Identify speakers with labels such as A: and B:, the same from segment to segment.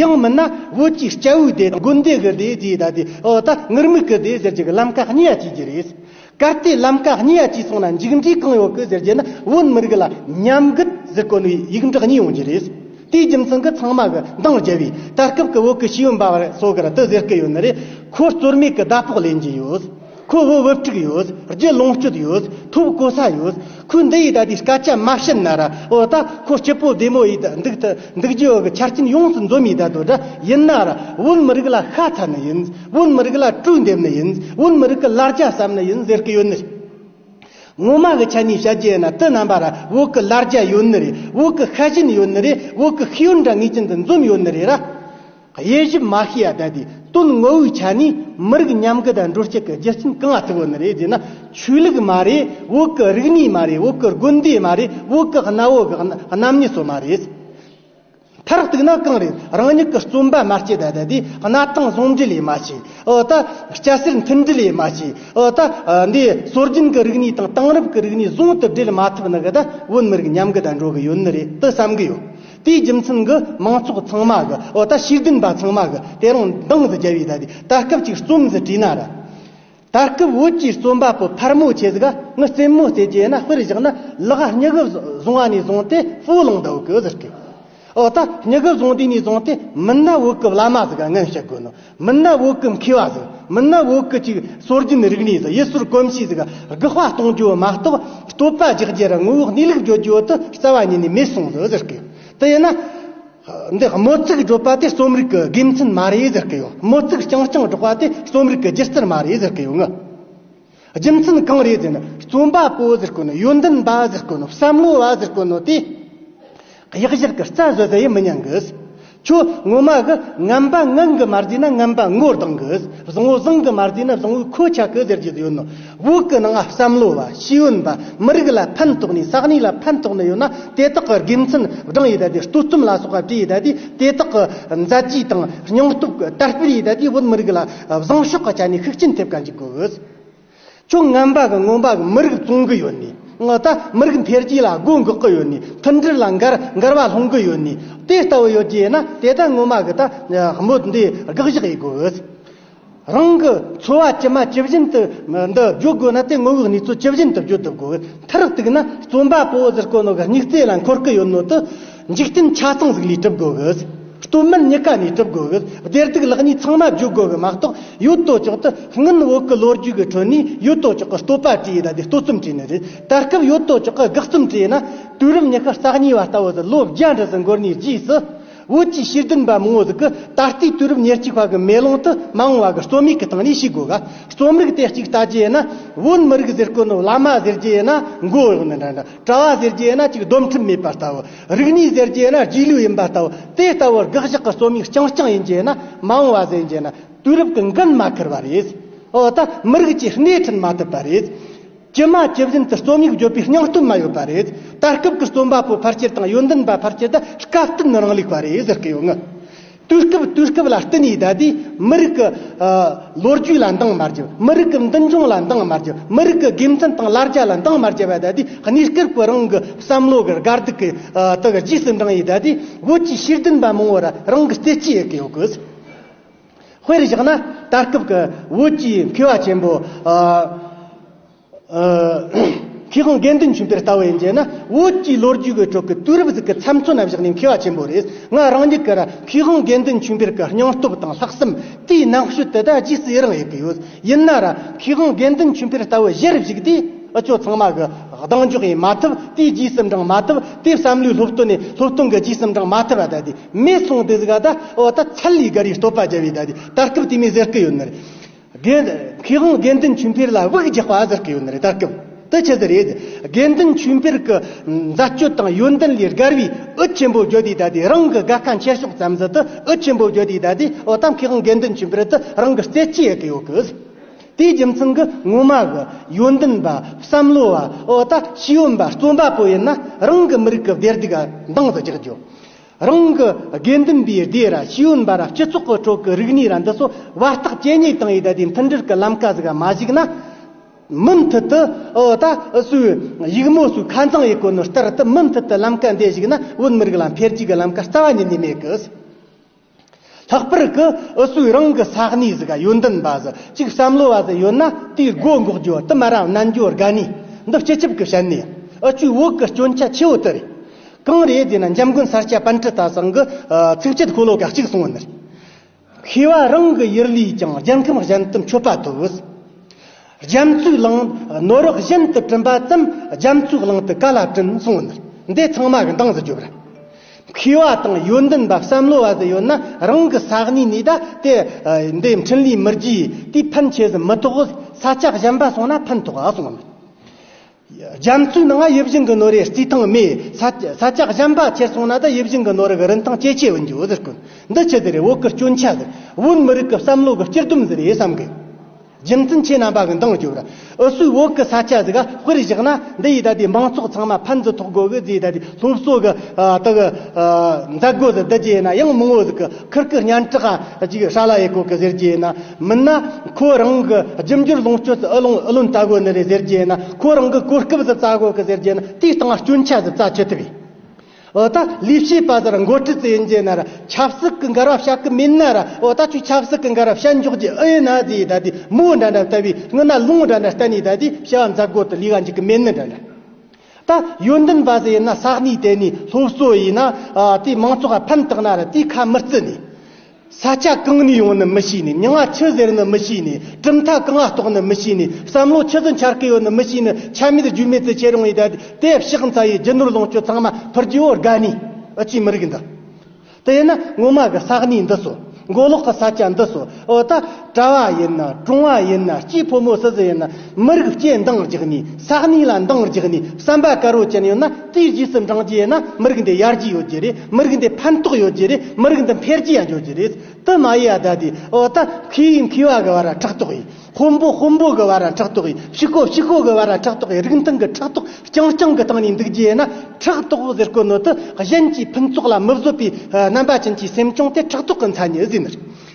A: ཡང་མིན་ན་བོད་ཀྱི་སྐྱ་བོའི་སྡེ་དང་དགོན་སྡེ་གི་སྡེ་བརྗེ་ད་ལྟའི་འོག་ད་ངུར་སྨུག་གི་སྡེ་ཟེར་རྒྱུ་གི་ལམ་ཀ་གཉིས་ཡ་བྱས་རྒྱུ་རེད། གལ་ཏེ་ལམ་ཀ་གཉིས་ཡ་བྱས་སོང་ན་མཇུག་འབྲས་གང་ཡོང་གི་ཟེར་རྒྱུ་ནི་བོད་མི་རིགས་ལ་ཉམས་རྒུད་ཟི་བཀོན་བའི་ཡིག་འབྲག་གཉིས་ཡོང་རྒྱུ་རེད། དེའི་རྒྱུ་མཚན་གི་ཚང་མ་གི་འདང་རྒྱལ་བའི་ད་སྐབས་ཀི་བོད་ཀི་ཤེས་ཡོན་པ་བ་སོགས་གི་ར་དི་ཟེར་གི་ཡོད་ནི་རེད། ཁོ་རྩོལ་མེད་གི་ཟླ་ཕོགས་ལེན་གྱི་ཡོད། ཁོའི་བུ་བུ་དྲུག་ཡོད། རྒྱུད་ལོངས་སྤྱོད་ཡོད། ཐུབ་གོ་ས་ཡོད། ཁོས་འདི་ཡིས་ད་ལྟའི་སྐད་ཆ་མ་བཤད་ན་ར་ཨོ་ད་ཁོ་སྐྱིད་པོ་བདེ་མོ་ཡིས་ད་འདུག་ད་འདུག་རྒྱུ་འོག་ཆ་རྐྱེན་ཡོངས་སུ་འཛོམས་ཡིས་ད་དོ་དྲ་ཡིན་ན་ར་བོད་མི་རིགས་ལ་ཤ་ཚ་ནི་ཡིན། བོད་མི་རིགས་ལ་དྲུག་འདེབས་ནི་ཡིན། བོད་མི་རིགས་ཀྱི་ལར་རྒྱ་བསམ་ནི་ཡིན་ཟེར་གི་ཡོད་ནི་རེད། ངོ་མ་གི་ཆ་ནས་བཤད་རྒྱུ་ཡིན་ན་དུས་རྣམ་པ་ར་བོད་ཀྱི་ལར་རྒྱ་ཡོད་ནི་རེད་བོད་ཀྱི་ཤ་ཞེན་ཡོད་ནི་རེད་བོད་ཀྱི་ཤེས་ཡོན་དྲ་ངས་ཅན་དུ་འཛོམས་ཡོད་ནི་རེད་ར། དབྱེ་ཞིབ་མ་ཤེས་ཡ་དལ་དུས་དོན་དངོས་བོའི་ཆ་ནས་མི་རིགས་མཉམ་འགུལ་དང་འགྲོ་སྐྱོད་ཀྱི་རྒྱུ་རྐྱེན་གང་ལྟ་བུ་ནི་རེད་ཅེ་ན། ཆོས་ལུགས་མ་རེད་འོག་གི་རིག་གནས་མ་རེད་འོག་གི་དགོན་སྡེ་མ་རེད་འོག་གི་གནའ་བོའི་རྣམ་དབྱེ་སོགས་མ་རེད། མཐར་གཏུགས་ན་གང་རེད་རང་ཉིད་ཀྱི་རྩོམ་པ་མ་སྐྱེས་དལ་དལ་དུས་གནའ་ཐང་ཟུང་འབྲེལ་ཡས་མ་བྱས་འོག་ད་སྐྱ་སེར་མཐུན་སྒྲིལ་ཡས་མ་བྱས་འོག་ད་འདི་སྲོལ་རྒྱུན་གྱི་རིག་གནས་དང་དེང་རབས་ཀྱི་རིག་གནས་ཟུང་དུ་སྦྲེལ་མ་ཐུབ་ན་གདའ་བོའི་མི་རིགས་མཉམ་འགུལ་དང་འགྲོ་གི་ཡོད་ནི་རེད་དུ་བསམ་གྱི་ཡོད། དེའི་རྒྱུ་མཚན་གྱིས་མང་ཚོགས་ཚང་མ་གི་འོ་ད་ཤེས་ལྡན་པ་ཚང་མ་གི་དེ་རང་མདངས་སུ་རྒྱལ་བའི་ད་དུས་ད་སྐབས་ཅིག་རྩོམ་ཟི་བྲིས་ན་ར། ད་སྐབས་བོད་ཀྱི་རྩོམ་པ་པོ་ཕར་མོ་ཆེ་ཟིག་ནི་རྩེད་མོ་རྩེད་ཀྱི་ཡིན་ན་དཔེར་བཞག་ན་ལག་སྙི་གི་བཟུང་བ་ནས་བཟུང་སྟེ་སྤོ་ལང་ད་བུག་གི་ཟེར་གི། འོ་ད་སྙི་གི་བཟུང་དུས་ནས་བཟུང་སྟེ་མིན་ན་བུག་གི་བླ་མ་ཟིག་ངན་ཤི་དགོས་ནོ། མི་ནི་བོད་སྐུ་མཁས་བ་ཟིག་མི་ནི་བོད་སྐུ་གཅིག་སྲོལ་རྒྱུན་རིག་གནས་སུ་ཡུལ་སྲོལ་གོམས་གཤིས་ཟིག་དགུ་དཔའ་གཏོང་རྒྱུ་མ་གཏོགས་བསྟོད་པ་རྒྱག་རྒྱུ་ར་ངོ་བོ་གནས་ལུགས་བརྗོད་རྒྱུ་དུ་རྩ་བ་ཉིད་ནས་མེད་སོང་ཟིག་ཟེར་གི་ཡོད་དེ་ཡིན་ན། འདི་དམོད་ཚིག་སྒྲོག་པ་དེ་རྩོམ་རིག་གི་དགེ་མཚན་མ་རེད་ཟེར་གི་ཡོད་དམོད་ཚིག་རྐྱང་རྐྱང་སྒྲོག་པ་དེ་རྩོམ་རིག་གི་རྒྱུ་རྩལ་མ་རེད་ཟེར་གི་ཡོད་ངོ། རྒྱུ་མཚན་གང་རེད་ཟེར་ན་རྩོམ་པ་པོ་ཟེར་དཀོན་ནོ་ཡོན་ཏན་པ་ཟེར་དཀོན་ནོ་བསམ་བློ་བ་ཟེར་དཀོན་ནོ་དེ། གཡག་གཞག་གི་རྩ་བཟོ་ཟེར་ཡི་མི་ཉན་གི། ཁྱོད་ངོ་མ་གི་རྔམ་པ་ངག་གི་མ་བཟོས་ན་རྔམ་པ་ངོ་གདངས་གི། བཟང་བོ་བཟང་གི་མ་བཟོས་ན་བཟང་བོའི་ཁོ་ཆགས་གི་ཟེར་རྒྱུ་དེ་ཡོད་ནོ། བོད་ཀྱི་ནང་བསམ་བློ་བ་ཤེས་ཡོན་པ་མི་རིགས་ལ་ཕན་ཐོགས་ནས་ས་གནས་ལ་ཕན་ཐོགས་ནས་ཡོད་ན་དེ་དག་གི་དགེ་མཚན་བགྲང་ཡས་དེ་ལྟའི་ལྟོས་རྩོམ་ལ་སོགས་པ་བྲིས་ཡས་དེ་དེ་དག་གི་མཛད་རྗེས་དང་སྙིང་སྟོབས་གི་དར་སྤེལ་ཡས་དེ་བོད་མི་རིགས་ལ་བཟང་ཤོག་ག་ཅག་ནས་ཤུགས་རྐྱེན་ཐེབས་ག་འཇུག་གི་འོད། ཁྱོད་རྔན་པ་གི་རྔོན་པ་གི་མི་རིགས་བཙོང་གི་ཡོད་ནི་ངུ་ད་མི་རིགས་འཕེལ་རྒྱས་ལ་སྒོ་འགག་གི་ཡོད་ནི་མཐུན་སྒྲིལ་ལ་འགར་འགར་བ་སློང་གི་ཡོད་ནི་དེ་ལྟ་བུ་ཡོད་རྒྱུ་ཡིན་ན་དེ་ད་རྔོན་མ་གི་ད་སྨོད་འདི་དགག་བཞག་ཡི་གི་འོད། རང་གི་འཚོ་བ་ཇི་མ་ཇི་བཞིན་དུ་འདི་བརྗོད་དགོས་ན་དེ་དངོས་བོའི་གནས་ཚུལ་ཇི་བཞིན་དུ་བརྗོད་དུ་དགོས་འོད་མཐར་གཏུགས་ན་རྩོམ་པ་པོ་ཟེར་དཀོན་ནོ་གི་སྙིགས་རྩེ་ལ་འཁོར་གི་ཡོད་ནོ་དི། འཇིག་རྟེན་ཆ་ཚང་ཟིག་ལས་གྲུབ་དགོས་གི། སྟོད་སྨད་གཉིས་ཀ་ནས་གྲུབ་དགོས་གི། བདེར་སྡུག་ལག་གཉིས་ཚང་མ་བརྗོད་དགོས་གི་མ་གཏོགས་ཡོད་དོ་ཅོག་དུ་སྔོན་འོག་གི་ལོ་རྒྱུས་ཀྱི་ཁྲོད་ནས་ཡོད་དོ་ཅོག་གི་སྟོད་པ་བྲིས་ཡོད་ད་ལྟའི་སྟོད་རྩོམ་བྲིས་ནི་རེད། ད་སྐབས་ཡོད་དོ་ཅོག་གི་དགག་རྩོམ་བྲིས་ཡོད་ན་དུས་རབས་ཉི་ཤུ་རྩ་གཉིས་བ་ལྟ་བུ་ཟིག་ལོ་བརྒྱ་འགྲི་ཟིག་འགོར་ནས་རྗེས་སུ་བོད་ཀྱི་ཤེས་ལྡན་པ་མང་བོ་ཟིག་གི་ད་ལྟའི་དུས་རབས་ཉེར་གཅིག་བ་གི་མེ་ལོང་དུ་མ་འོང་བ་གི་རྩོམ་ཡིག་གི་སྟེང་ནས་ཤེས་དགོས་གི། རྩོམ་རིག་དེ་གཅིག་ལྟ་རྒྱུ་ཡིན་ན་བོད་མི་རིགས་ཟེར་དཀོན་ནོ་བླ་མ་ཟེར་རྒྱུ་ཡིན་ན་མགོ་གཡོག་ནི་འདྲ་འདྲ། གྲྭ་བ་ཟེར་རྒྱུ་ཡིན་ན་གཅིག་སྡོམ་ཁྲིམས་མེད་པ་ལྟ་བུ། རིག་གནས་ཟེར་རྒྱུ་ཡིན་ན་རྗེས་ལུས་ཡིན་པ་ལྟ་བུ། དེ་ལྟ་བུར་དགག་གཞག་གི་རྩོམ་ཡིག་རྐྱང་རྐྱང་ཡིན་གྱི་ཡིན་ན་མ་འོངས་བ་ཟེར་གྱི་ཡིན་ན་དུས་རབས་ཀྱི་འགན་མ་འཁུར་བ་རེད། འོ་ད་མི་རིགས་ཀྱི་སྣེ་ཁྲིད་མ་ཐུབ་པ་རེད། ཇི་མ་ཇི་བཞིན་དུ་རྩོམ་ཡིག་བརྗོད་པའི་སྙིང་སྟོབས་མ་ཡོད་པ་རེད། ད་སྐབས་ཀྱི་རྩོམ་པ་པོའི་ཕར་ཆེར་དང་ཡོན་ཏན་པ་ཕར་ཆེར་དེ་སྐབས་བསྟུན་རང་ལུགས་པ་རེད་ཟེར་གྱི་ཡོད་ངེས། དུས་སྐབས་དུས་སྐབས་ལ་བསྟུན་ནས་བསྡད་དེ་མི་རིགས་ཀྱི་ལོ་རྒྱུས་ལ་འདང་མ་རྒྱག་མི་རིགས་ཀྱི་མདུན་ལྗོངས་ལ་འདང་མ་རྒྱག་མི་རིགས་ཀྱི་དགེ་མཚན་དང་ལར་རྒྱ་ལ་འདང་མ་རྒྱག་པའི་བསྡད་དེ་གནས་སྐབས་ཀྱི་རང་གི་བསམ་བློ་གི་དགའ་སྡུག་གི་དག་རྗེས་སུ་འབྲངས་ཡས་བསྡད་དེ་བོད་ཀྱི་ཤེས་ལྡན་པ་མང་བོ་ལ་རང་གི་བརྩེ་གཅིག་ཡོད་ཀྱི་ཡོད་གི། དཔེར་བཞག་ན་ད་སྐབས་ཀྱི་བོད་ཀྱི་འཕེལ་བ་ཆེན་པོ། ཁེ་གང་དགེ་འདུན་ཆེན་པོའི་ལྟ་བ་ཡིན་ཅེ་ན། བོད་ཀྱི་ལོ་རྒྱུས་ཀྱི་ཁྲོད་ཀྱི་དུས་རབས་ཟིག་གི་མཚམས་མཚོན་ན་བཞག་ནས་མཁས་བ་ཆེན་པོ་རེས་ང་རང་ཉིད་ཀྱིར་ཁེ་གང་དགེ་འདུན་ཆེན་པོའི་གི་སྙིང་སྟོབས་དང་ལྷག་བསམ་དེའི་ནང་ཤུལ་དེ་དག་རྗེས་སུ་ཡི་རང་ཡོད་ཀྱི་ཡོད། ཡིན་ནར་ཁེ་གང་དགེ་འདུན་ཆེན་པོའི་ལྟ་བའི་གཞིར་གཞིགས་དེ་འུ་ཅོ་ཚང་མ་གི་གདེང་འཇོག་ཡིན་མ་ཐུབ་དེའི་རྗེས་སུ་འབྲངས་མ་ཐུབ་དེའི་བསམ་བློའི་སློབ་སྟོན་ནས་སློབ་སྟོན་གྱི་རྗེས་སུ་འབྲངས་མ་ཐུབ་བ་དེ་མེད་སོང་དུས་ཟིག་ཨ་ད་འོ་ད་ཚད་ལས་བརྒལ་བའི་བསྟོད་པ་བརྒྱབ་ཡོད་དེ་ད་སྐབས་དེ་མི་ཟེར་གྱི་ཡོད་ནི་རེད། དགེ་དབང་དགེ་འདུན་ཆོས་འཕེལ་ལ་དབུགས་རྒྱག་པ་ཟེར་གི་ཡོད་ནི་རེད་ད་སྐབས་དེ་ཆི་ཟེར་རེད། དགེ་འདུན་ཆོས་འཕེལ་གི་མཛད་སྤྱོད་དང་ཡོན་ཏན་ལས་སྒར་བའི་ཨུད་ཆེན་པོ་བརྒྱུད་དེ་ད་ལྟའི་རང་གི་དགའ་ཁ་འཁྱེར་ཕྱོགས་ཙམ་ཟིན་དུ་ཨུད་ཆེན་པོ་བརྒྱུད་དེ་ད་ལྟའི་འོ་ད་མཁས་དབང་དགེ་འདུན་ཆོས་འཕེལ་དུ་རང་གི་རྩེ་གཅིག་ཡལ་གི་ཡོད་གི། དེའི་རྒྱུ་མཚན་གི་ངོ་མ་གི་ཡོན་ཏན་པ་བསམ་བློ་བ་འོ་ད་ཤེས་ཡོན་པ་རྩོམ་པ་པོ་ཡིན་ན་རང་གི་མི་རིགས་ཀི་བདེ་སྡུག་ག་འདང་དུ་རྒྱག་རྒྱུ། རང་གི་དགེ་འདུན་པའི་སྡེ་ར་ཤིས་འོད་འབར་ར་སྤྱི་ཚོགས་ཀྱི་ཁྲོད་ཀྱི་རིག་གནས་ར་འདི་ཚོ་བར་ཐག་ཇེ་ཉེ་བཏང་ཡོད་ད་ལྟའི་མཐུན་སྒྲིལ་གྱི་ལམ་ཀ་ཟིག་མ་གཞིགས་ན། མུ་མཐུད་དུ་ཨོ་ད་སུའི་ཡིག་མོ་སུའི་ཁ་མཛངས་ཡིག་གོ་ནོར་ལྟར་དུ་མུ་མཐུད་དུ་ལམ་ཀ་འདི་གཞིགས་ན་བོད་མི་རིགས་ལ་འཕེལ་རྒྱས་ཀྱི་ལམ་ཀ་རྩ་བ་ཉིད་ནས་མེད་གི། ལྷག་པར་དུ་ཨུ་ཚུགས་རང་གི་ས་གནས་སུ་ག་ཡོད་འདུན་པ་ཟུར་གཅིག་བསམ་བློ་བ་ཟིག་ཡོད་ན་དེའི་སྒོ་འགོག་རྒྱུ་བསྟུད་མར་རང་རྣལ་འབྱོར་དགའ་ནི་འདི་སྤྱི་ཁྱབ་ཀྱི་བཤད་ནི་ཨུ་བཅུའི་འོག་གི་སྐྱོན་ཆ་ཆེ་བོ་དེ་རེད། གང་རེད་ཟེར་ན་འཇམ་མགོན་ས་སྐྱ་པཎ་ཁྲི་ད་སང་གི་ཚིག་བཅད་ཁོ་ལོ་ག་གཅིག་གསུངས་བ་འདི་རེད། ཤེས་བ་རང་གི་ཡུལ་ལས་ཀྱང་རྒྱལ་ཁམས་གཞན་དུ་མཆོད་པ་ཐོབ་བོད། རྒྱ་མཚོའི་གླིང། ནོར་རག་བཞིན་དུ་བྲིམ་པ་ཙམ་རྒྱ་མཚོའི་གླིང་དུ་ག་ལ་བྲིམ་གསུང་བ་འདིར་འདི་ཚང་མ་གི་འདང་ཟི་རྒྱོབ་ར། མཁས་བ་དང་ཡོན་ཏན་པ་བསམ་བློ་བ་ཟི་ཡོད་ན་རང་གི་ས་གནས་ནས་ད་དེ་འདི་འཕྲིན་ལས་མི་རྒྱས་དུས་ཕན་ཆེ་ཟི་མི་ཐོག་ས་ལྕག་གཞན་པ་སོང་ན་ཕན་ཐོག་ཨ་གསུང་བ་འདིར། རྒྱ་མཚོའི་ནང་དབྱིབས་བཞིན་གྱི་ནོར་རེའི་རྩིས་ཐང་མའི་ས་ཆ་གཞན་པ་ཁྱེར་སོང་ན་ད་དབྱིབས་བཞིན་གྱི་ནོར་གྱི་རིན་ཐང་ཇེ་ཆེ་འོན་རྒྱུ་འོད་ཟེར་ཀུན་འདི་ཆུ་དེ་རེད་བོད་ཀྱི་སྐྱོན་ཆ་འདི་བོད་མི་རིགས་ཀྱི་བསམ་བློ་གི་སྤྱིར་སྡོམ་འདི་རེད་བསམ་དགོས། རྒྱུ་མཚན་ཁྱེད་རྣམ་པ་གི་མདངས་བསྐྱུར་འུ་སུའི་བོད་ཀྱི་ས་ཆ་ཟིག་དཔེར་བཞག་ན་འདི་ཡིས་ད་ལྟའི་མང་ཚོགས་ཚང་མ་ཕན་ཚུན་ཐོག་དགོས་གི་རྫས་ད་ལྟའི་སློབ་གསོ་གི་དག་གི་མཛད་སྒོ་ཟིག་འདི་རྒྱས་ཡིན་ན་ཡང་མང་བོ་ཟིག་གི་ཁུར་གི་སྙན་གྲགས་ཅིག་ཧྲ་ལ་ཡེ་ཀོ་གི་ཟེར་གྱི་ཡིན་ན། མིན་ན་ཁོ་རང་གི་རྒྱུ་འབྱོར་ལོངས་སྤྱོད་ཀྱི་ཨུ་ལོང་ཨུ་ལོན་རྩ་རྒོད་ནི་རེད་ཟེར་རྒྱུ་ཡིན་ན་ཁོ་རང་གི་གོ་སྐབས་ཟི་རྩ་རྒོད་གི་ཟེར་རྒྱུ་ཡིན་ན་དེའི་སྟེང་སྐྱོན་ཆ་ཟི་རྩ་ཆུད་ཐུབ་ཡིན། འོ་ད་ལས་བྱེད་པ་ཟེར་མགོ་ཁྲིད་ཟེར་རྒྱུ་ཡིན་ན་ཆབ་སྲིད་ཀྱི་འགལ་བ་བྱ་གི་མིན་ན་ར་འོ་ད་ཁྱོད་ཆབ་སྲིད་ཀྱི་འགལ་བ་བྱེད་མགྱོགས་ཀྱི་ཨུ་ཡིན་ན་ཟི་ཡིས་ད་དེ་མོ་འདྲ་འདྲ་བལྟ་བའི་སྔུན་ན་ལུང་འདྲ་འདྲ་གཏན་ནས་ད་དེ་བྱ་བ་འཛག་རྒོད་དུ་ལུས་ག་འཇུག་གི་མིན་ནི་འདྲ་འདྲ། ད་ཡོན་ཏན་པ་ཟེར་ཡིན་ན་ས་གནས་དེ་ནས་སློབ་གསོ་ཡིན་ན་དེ་མང་ཚོགས་ལ་ཕན་བཏགས་ན་ར་དེའི་ཁ་མི་བརྩི་ནས། ས་ཆ་གང་ནས་ཡོང་ནི་མི་ཤེས་ནས་མྱང་ང་ཆུ་ཟེར་ནི་མི་ཤེས་ནས་གྲུབ་མཐའ་གང་ང་རྟོགས་ནི་མི་ཤེས་ནས་བསམ་བློ་ཆུ་ཟིན་འཆར་ཀི་ཡོད་ནི་མི་ཤེས་ནི་ཆ་མེད་རྒྱུས་མེད་དུ་ཁྱེད་རང་ཡི་དད་དེ་བཤགས་འཚལ་ཡི་རྒྱུ་ནོར་ལོངས་སྤྱོད་ཚང་མ་ཕུར་རྒྱུ་བོ་དགའ་ནི་ཨི་ཆུའི་མི་རིགས་འདི་དེ་ཡི་ན་ངོ་མ་གི་ས་གནས་འདི་སོ་མགོ་ལོག་གི་ས་ཆ་འདི་སོ་ཨོ་ད། གྲྭ་བ་ཡིན་ན་གྲོང་བ་ཡིན་ན་སྐྱེས་ཕོ་མོ་སུ་ཟི་ཡིན་ན་མི་རིགས་སྐྱེས་འདང་རྒྱག་ནས་ས་གནས་ལ་འདང་རྒྱག་ནས་བསམ་པ་དཀར་བོ་ཅན་ཡོད་ན་དེའི་རྗེས་སུ་འབྲང་རྒྱུ་ཡིན་ན་མི་རིགས་འདི་ཡར་རྒྱས་ཡོད་རྒྱུ་རེད་མི་རིགས་འདི་ཕན་ཐོགས་ཡོད་རྒྱུ་རེད་མི་རིགས་འདི་འཕེལ་རྒྱས་ཡང་ཡོད་རྒྱུ་རེད་དུ་མ་ཡིན་ཡ་ད་དེ་འོག་ཏུ་མཁས་ཡིན་མཁས་བ་གི་བར་ཕྲག་དོག་ཡིན་དཔོན་པོ་དཔོན་པོ་གི་བར་ཕྲག་དོག་ཡིན་ཕྱུག་པོ་ཕྱུག་པོ་གི་བར་ཕྲག་དོག་ཡིན་རིགས་མཐུན་གྱི་ཕྲག་དོག་རྐྱང་རྐྱང་གི་སྟེང་ནས་འདུག་རྒྱུ་ཡིན་ན་ཕྲག་དོག་ཟེར་དཀོན་ནོ་དུ་གཞན་གྱི་ཕུན་ཚོགས་ལ་མི་བཟོད་པའི་རྣམ་པ་ཅན་གྱི་སེམས་བྱུང་དེ་ཕྲག་དོག་གི་མཚན་ཉིད་ཟེར་ནི་རེད།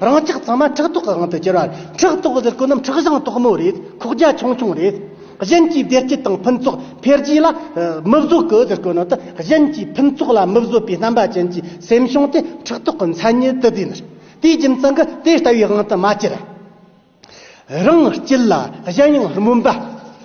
A: རང་ཅག་ཚང་མ་ཕྲག་དོག་གི་དབང་དུ་གྱུར་བ་རེད། ཕྲག་དོག་གི་ཀུན་རྣམས་ཁྲག་བཞིན་དོག་མོ་རེད། ཁོག་རྒྱ་ཆུང་ཆུང་རེད། གཞན་གྱིས་བདེ་སྐྱིད་དང་ཕུན་ཚོགས་འཕེལ་རྒྱས་ལ་མི་བཟོད་གོ་ཟེར་དགོས་ནོ་ཏི་གཞན་གྱིས་ཕུན་ཚོགས་ལ་མི་བཟོད་པའི་རྣམ་པ་ཅན་གྱི་སེམས་བྱུང་སྟེ་ཕྲག་དོག་གི་མཚན་ཉིད་དུ་བསྡུས་ནོ། དེའི་རྒྱུ་མཚན་གྱིས་དེ་ལྟ་བུའི་དབང་དུ་མ་གྱུར། རང་སྐྱེས་ལ་གཞན་ཡང་སྨོན་པ་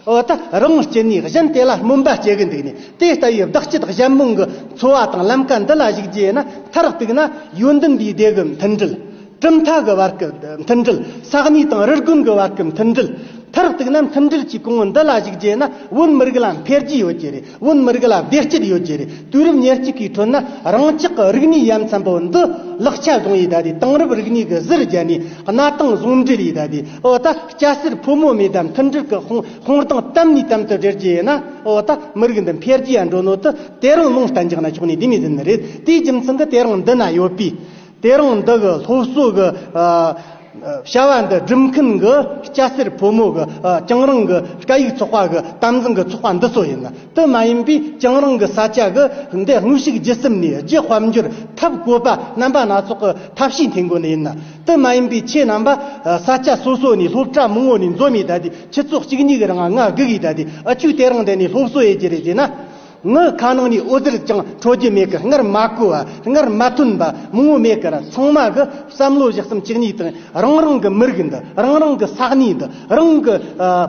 A: འོ་ད་རང་སྐྱེས་ནས་གཞན་དེ་ལ་སྨོན་པ་སྐྱེ་གི་འདུག་ནས་དེ་ལྟ་བུའི་བདག་སྐྱེད་གཞན་མང་གི་འཚོ་བ་དང་ལམ་ཀ་འདི་ལ་གཞིག་རྗེས་ན་མཐར་གཏུགས་ན་ཡོན་འདུན་པའི་སྡེ་གི་མཐུན་སྒྲིལ། གྲུབ་མཐའ་གི་བར་གི་མཐུན་སྒྲིལ། ས་གནས་དང་རུ་དགོན་གི་བར་གི་མཐུན་སྒྲིལ། མཐར་གཏུགས་ན་མཐུན་སྒྲིལ་གྱི་གོང་བུ་འདི་ལ་གཞིག་རྗེས་ན་བོད་མི་རིགས་ལ་འཕེལ་རྒྱས་ཡོད་ཀྱི་རེད། བོད་མི་རིགས་ལ་བདེ་སྐྱིད་ཡོད་རྒྱུ་རེད་དུས་རབས་ཉེར་གཅིག་གི་ཁྲོད་ན་རང་ཅག་གི་རིག་གནས་ཡ་མཚན་པོ་འདི་ལག་ཆ་བཟུང་ཡས་ད་དེ་དེང་རབས་རིག་གནས་ཀྱི་གཟིར་བརྒྱབ་ནས་གནའ་དེང་ཟུང་འབྲེལ་ཡས་ད་དེ་འོ་ད་སྐྱ་སེར་ཕོ་མོ་མེད་དམ་མཐུན་སྒྲིལ་གྱི་ཧོང་གདངས་དམ་ནས་དམ་དུ་སྦྲེལ་གྱི་ཡས་ན་འོ་ད་མི་རིགས་འདི་འཕེལ་རྒྱས་ཡ་འགྲོ་ནོ་དེ་དེ་རིང་ལུང་བསྟན་རྒྱག་ན་ཆོག་ནས་དེ་མི་ཟིན་ནི་རེད་དེའི་རྒྱུ་མཚན་གྱི་དེ་རིང་འདི་ན་ཡོད་པའི་དེ་རིང་འདི་གི་སློབ་གསོ་གི་བྱ་བ་འདི་སྒྲུབ་མཁན་གྱི་སྐྱ་སེར་ཕོ་མོ་གི་རྐྱང་རིང་གི་སྐད་ཡིག་ཚོགས་པ་གི་དམ་འཛིན་གྱི་ཚོགས་པ་འདི་ཚོ་ཡིན། དེ་མ་ཡིན་པའི་རྐྱང་རིང་གི་ས་ཆ་གི་འདི་དངོས་ཤུགས་བརྒྱུད་གསུམ་ནས་རྒྱུ་དཔལ་འབྱོར་ཐབས་བཀོད་པ་རྣམ་པ་སྣ་ཚོགས་ཀྱི་ཐབས་ཤེས་འཐེན་དགོས་ནི་ཡིན། དེ་མ་ཡིན་པའི་ཁྱེད་རྣམ་པ་ས་ཆ་སོ་སོ་ནས་སློབ་གྲྭ་མང་བོ་ནས་འཛོམས་ཡས་ད་དེ་ཁྱི་ཚོགས་གཅིག་གཉིས་གི་རང་ང་དགུག་ཡས་ད་དེ་ཨ་ཆུ་དེ་རིང་འདི་ནས་སློབ་གསོ་ཡས་ཀྱི་རེད་ཅེ་ན། ངའི་ཁ་ནང་ནས་འོད་ཟེར་ཀྱང་འཕྲོ་རྒྱུ་མེད་ཀི་སྔར་མ་གོ་བ་སྔར་མ་མཐུན་པ་མང་བོ་མེད་ཀིར་ཚང་མ་གི་བསམ་བློ་གཞི་གསུམ་གཅིག་ཉིད་དང་རང་རང་གི་མི་རིགས་འདི་རང་རང་གི་ས་གནས་འདི་རང་གི་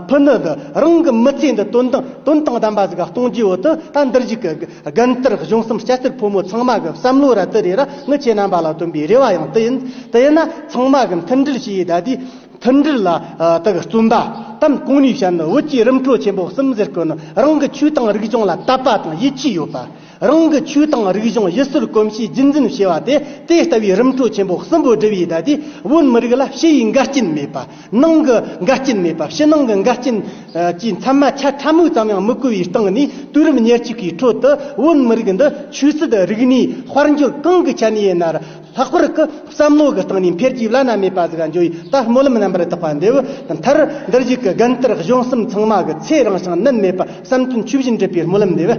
A: ཕུ་ནུ་འདི་རང་གི་མི་ཚེ་འདི་དོན་དང་དོན་དང་ལྡན་པ་ཟིག་གཏོང་རྒྱུའི་འོག་ཏུ་ད་འདིར་གཞིག་གི་དགའ་མཐར་གཞུང་གསུམ་སྐྱ་སེར་ཕོ་མོ་ཚང་མ་གི་བསམ་བློ་ར་དི་རེ་ར་ངའི་ཁྱེད་རྣམ་པ་ལ་བཏོན་པའི་རེ་བ་ཡང་དེ་ཡིན་དེ་ཡིན་ན་ཚང་མ་གི་མཐུན་སྒྲིལ་བྱེད་ཡས་ད་ལྟའི་མཐུན་སྒྲིལ་ལ་དག་བཙུན་པ་དམ་གང་ནུས་བྱ་ནི་བོད་ཀྱི་རིམ་གྲོ་ཆེན་པོ་གསུམ་ཟེར་དགོས་ནི་རང་གི་ཆོས་དང་རིག་གཞུང་ལ་དད་པ་དང་ཡིད་ཆེས་ཡོད་པ། རང་གི་ཆོས་དང་རིག་གཞུང་ཡུལ་སྲོལ་གོམས་གཤིས་རྒྱུན་འཛིན་བྱེད་པ་དེ་དེ་ལྟ་བུའི་རིམ་གྲོ་ཆེན་པོ་གསུམ་པོ་སྒྲུབ་ཡུལ་དག་དེ་བོད་མི་རིགས་ལ་ཕྱི་ཡི་འགལ་རྐྱེན་མེད་པ། ནང་གི་འགལ་རྐྱེན་མེད་པ་ཕྱི་ནང་གི་འགལ་རྐྱེན་གྱིས་མཚན་མ་ཆ་ཕྲ་མོ་ཙམ་ཡང་མི་གོ་བའི་སྟེང་ནས་དུས་རབས་ཉེར་གཅིག་པའི་ཁྲོད་དུ་བོད་མི་རིགས་འདི་ཆོས་སྲིད་རིག་གནས་དཔལ་འབྱོར་གང་གི་ཆ་ནས་ཡིན་ན་ལྷག་པར་སྐུ་བསམ་བློ་གི་སྟེང་ནས་འཕེལ་རྒྱས་བླ་ན་མེད་པ་ཟིག་འབྱུང་བའི་ད་སྨོན་ལམ་རྣམ་པར་དག་པ་འདི་བས་མཐར་འདིར་གཞུག་གི་དགོན་གཏེར་གཞུང་གསུམ་ཚང་མ་གི་ཚེ་རིང་ཞིང་གནོད་མེད་པ་བསམ་དོན་ཆོས་བཞིན་འགྲུབ་པའི་སྨོན་ལམ་འདེབས།